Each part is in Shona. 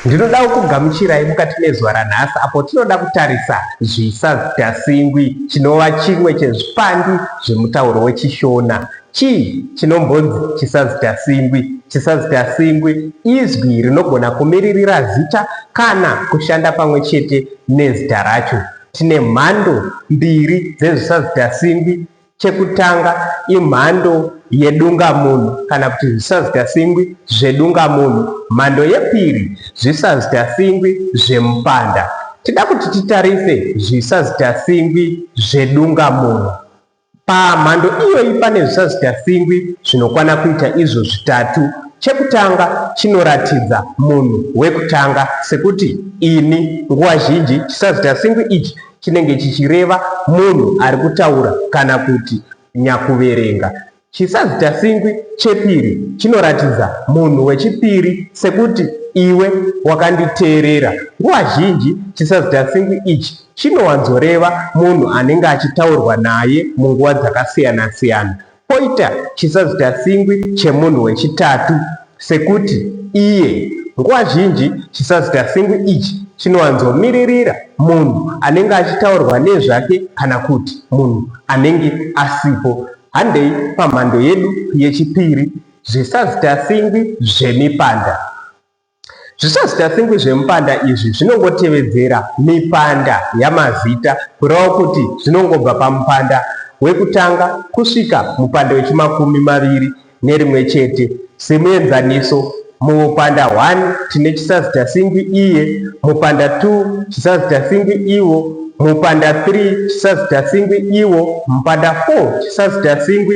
ndinoda kukugamuchirai mukati mezuva ranhasi apo tinoda kutarisa zvisazidasingwi chinova chimwe chezvipandi zvemutauro wechishona chii chinombonzi chisazidasingwi chisazidasingwi izwi rinogona kumiririra zita kana kushanda pamwe chete nezita racho tine mhando mbiri dzezvisazidasingwi Chekutanga imhando yedungamunhu kana kuti zvisazgasingwi zvedungamunhu. Mhando yepiri zvisazgasingwi zvemupanda. Tida kuti titarise zvisazgasingwi zvedungamunhu. Pamhando iyoyi pane zvisazgasingwi zvinokwana kuita izvo zvitatu. Chekutanga chinoratidza munhu wekutanga sekuti ini. Nguva zhinji chisazgasingwi ichi chinenge chichireva munhu ari kutaura kana kuti nyakuverenga. Chisazitasingwi chepiri chinoratidza munhu wechipiri sekuti iwe wakanditeerera. Nguva zhinji chisazitasingwi ichi chinowanzoreva munhu anenge achitaurwa naye munguva dzakasiyana-siyana. Poita chisazitatsingwi chemunhu wechitatu, sekuti iye. Nguva zhinji chisazitatsingwi ichi chinowanzomiririra munhu anenge achitaurwa nezvake kana kuti munhu anenge asipo. Handei pamhando yedu yechipiri, zvisazitatsingwi zvemipanda. Zvisazitatsengwi zvemupanda izvi zvinongotevedzera mipanda yamazita kureva kuti zvinongobva pamupanda wekutanga kusvika mupanda wechimakumi maviri nerimwe chete. Semuenzaniso, mumupanda 1 tine chisazitasingwi iye, mupanda 2 chisazitasingwi iwo, mupanda 3 chisazitasingwi iwo, mupanda 4 chisazitasingwi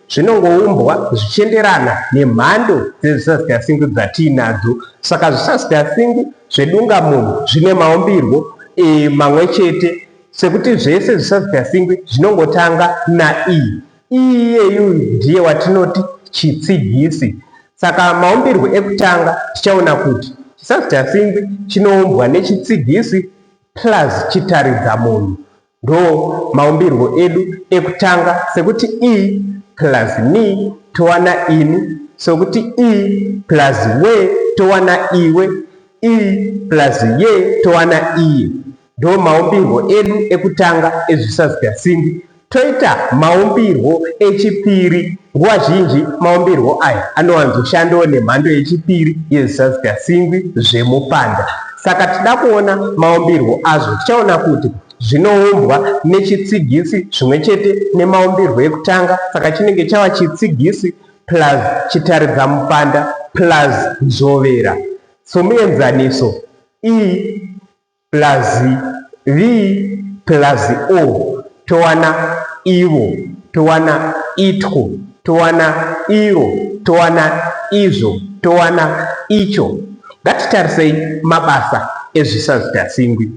zvinongoumbwa zvichienderana nemhando dzezvisazigasingu dzatiinadzo saka zvisazigasingu zvedungamunhu zvine maumbirwo e, mamwe chete sekuti zvese zvisazigasingu zvinongotanga nae iyeyu ndiye watinoti chitsigisi saka maumbirwo ekutanga tichaona kuti chisazigasingu chinoumbwa nechitsigisi plus chitaridza munhu Ndo maumbirwo edu ekutanga sekuti i plus ni towana ini, sokuti i plus we towana iwe, i plus ye towana iye. Ndo maumbirwo edu ekutanga ezvisazigasimbi. Toita maumbirwo echipiri. Nguva zhinji maumbirwo aya anowanzoshandawo nemhando yechipiri yezvisazigasimbi zvemupanda. Saka tichida kuona maumbirwo azvo, tichaona kuti zvinoumbwa nechitsigisi zvimwe chete nemaumbirwo ekutanga, saka chinenge chava chitsigisi plus chitaridzamupanda plus nzvovera. Somuenzaniso, i plus v plus o. towana ivo, towana itwo, towana iro, towana izvo, towana icho. Ngatitarisei mabasa ezvisazitasingwi.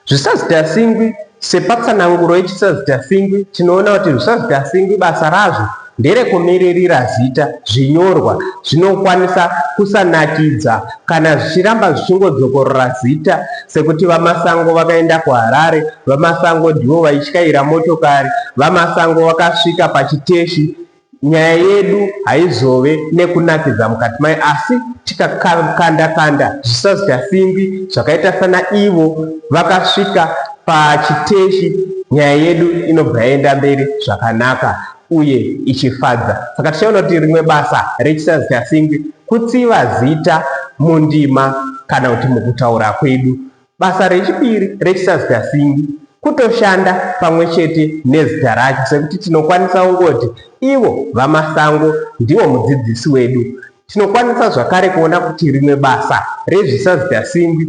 Zvisazitasingwi, sepatsananguro yechisazitasingwi, tinoona kuti zvisazitasingwi basa razvo nderekumiririra zita zvinyorwa zvinokwanisa kusanakidza kana zvichiramba zvichingodzokorora zita sekuti VaMasango vakaenda kuHarare, VaMasango ndivo vaityaira motokari, VaMasango vakasvika pachiteshi. Nyaya yedu haizove nekunakidza mukati mayo asi tikakanda kanda zvisazita simbi zvakaita sana ivo vakasvika pachiteshi nyaya yedu inobva yaenda mberi zvakanaka. uye ichifadza. Saka tichaona kuti rimwe basa rechisazichasingwi kutsiva zita mundima kana kuti mukutaura kwedu. Basa rechipiri rechisazichasingwi kutoshanda pamwe chete nezita racho sekuti tinokwanisa kungoti ivo vamasango ndivo mudzidzisi wedu tinokwanisa zvakare kuona kuti rimwe basa rezvisazichasingwi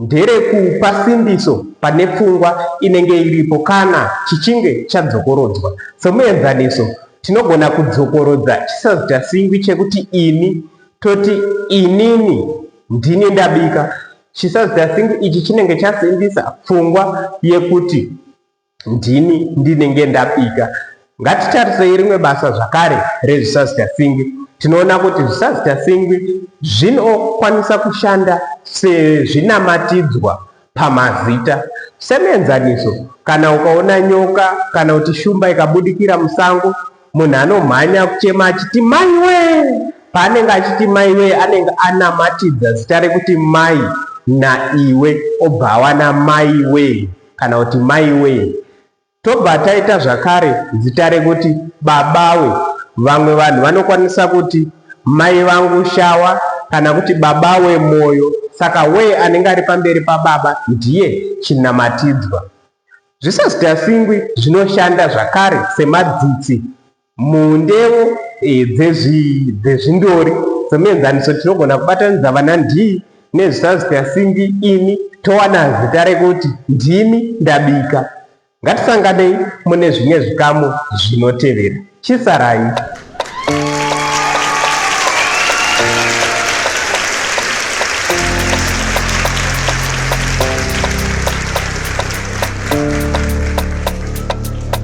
nderekupa simbiso pane pfungwa inenge iripo kana chichinge chadzokorodzwa. Somuenzaniso, tinogona kudzokorodza chisazitasingwi chekuti ini toti inini ndini ndabika. Chisazitasingwi ichi chinenge chasimbisa pfungwa yekuti ndini ndinenge ndapika ngatitarisei rimwe basa zvakare rezvisazitasingi tinoona kuti zvisazitasingi zvinokwanisa kushanda sezvinamatidzwa pamazita semuenzaniso kana ukaona nyoka kana kuti shumba ikabudikira musango munhu anomhanya kuchema achiti mai wee paanenge achiti mai wee anenge anamatidza zita rekuti mai naiwe obva awana mai wee kana kuti maiwee tobva taita zvakare zita rekuti babawe vamwe vanhu vanokwanisa kuti mai vangu shawa kana kuti baba wemwoyo saka wee anenge ari pamberi pababa ndiye chinamatidzwa zvisazitasingwi zvinoshanda zvakare semadzitsi Mundewo dzezvindori somuenzaniso tinogona kubatanidza vana ndii nezvita zita singi ini towana zita rekuti ndimi ndabika. Ngatisanganei mune zvimwe zvikamu zvinotevera. Chisarai.